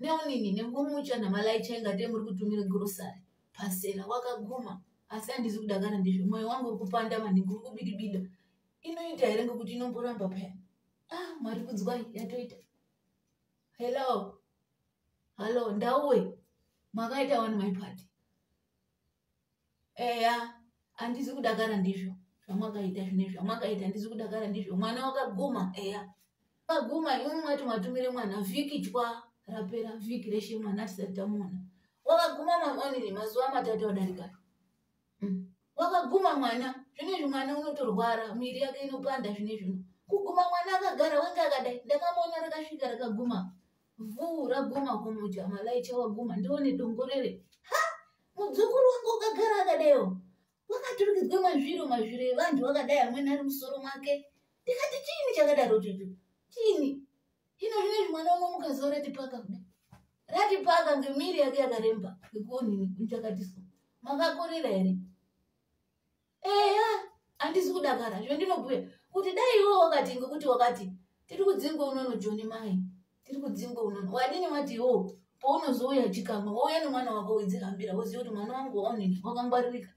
neunini nengomucha namalaicha ingate muri kutumira grosary pasera wakaguma asi handizi kudakara ndizvo mwoyo wangu uri kupanda maningi uri kubidibida inoita here ngekuti inomboramba paya ah mwari kudzwai yatoita hello hallo ndauwe makaita wani my party eya handizi kudakara ndizvo zvamwakaita zvinezvi amwakaita ndisi kudakara ndizvo mwana wakaguma eya akaguma imwe mwati mwatumire mwana vhiki chwa rapera vhiki reshe mwana atisati tamuona wakaguma maonini mazuva matatu adarika mm. wakaguma mwana zvinezvi mwana unotorwara miri yake inopanda zvinezvino kuguma mwana akagara wenge akadai ndakamuona rakasvika rakaguma vhuu raguma homo jama laicha waguma ndione dongorere ha mudzukuru wangu ukagara akadaiwo wakaturikidzwa mazviro mazviro evanhu vakadai amweni ari musoro mwake ndikati chiini chakadaro chocho chiini ino zvine zvimwana uno mukaziva ratipaka kuda ratipaka ngemiri yake yakaremba ngekuonini kuchakatiswa makakorera here eya handisi kudakara zve ndinobhuya kuti dai iwo wakati ngekuti wakati tiri kudzingwa unono joni mai tiri kudzingwa unono wadini wati iwo paunozouya chikamwa wouya nemwana wako widzihambira woziva kuti mwana wangu waonini wakangwaririka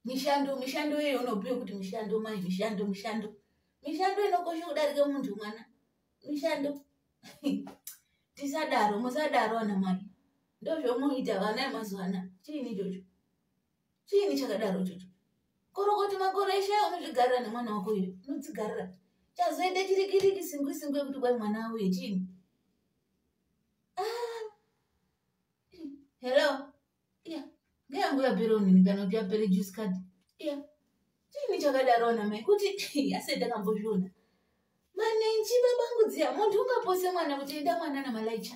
mishando mishando iyoyo unobhuya kuti mishando mai mishando mishando mishando inokosha kudarika munhu mwana mishando tisadaro musadaro ana mai ndozvomuita vana emazuva ana chiini ichocho chiini chakadaro chocho korokoti makore eshe unozvigarira nemwana wako uyu unodzigarira chazoita chirikiriki singwi singwi yekuti kwai mwana auye chiini ah. hello iya ngeyangu yapere unini kana kuti yapere juice card iya chiini chakadaro ana mai kuti asi ndakambozviona manenji babangudziya munhu ungapose mwana kuti enda mwana namalaicha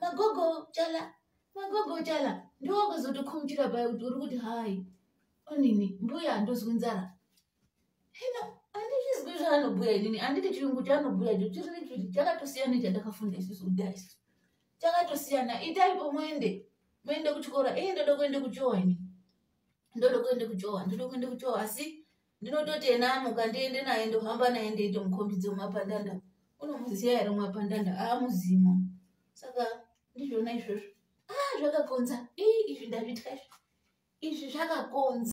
magogo chala magogo chala ndowakuzotokhumutira paye kuti uri kuti hayi onini mbuya handozwi nzara hino andizvizwi zvaanobhuya inini anditi chirungu chaanobhuya cho chiri chakatosiyana chandakafunda isusu kudai isu chakatosiyana itai pomwende moende kuchikora ii ndoda kuende kuchowa ini ndoda kuende kuchowa ndoda kuende kuchowa asi ndinototi ena amuka ndiende naye ndohamba naye ndeito mukombidze mwapandanda unomuziva here mwapandanda aamuzimo saka ndizvona izvozvo a ah, zvakakonza ii izvi ndazvitya izvi izvi zvakakonza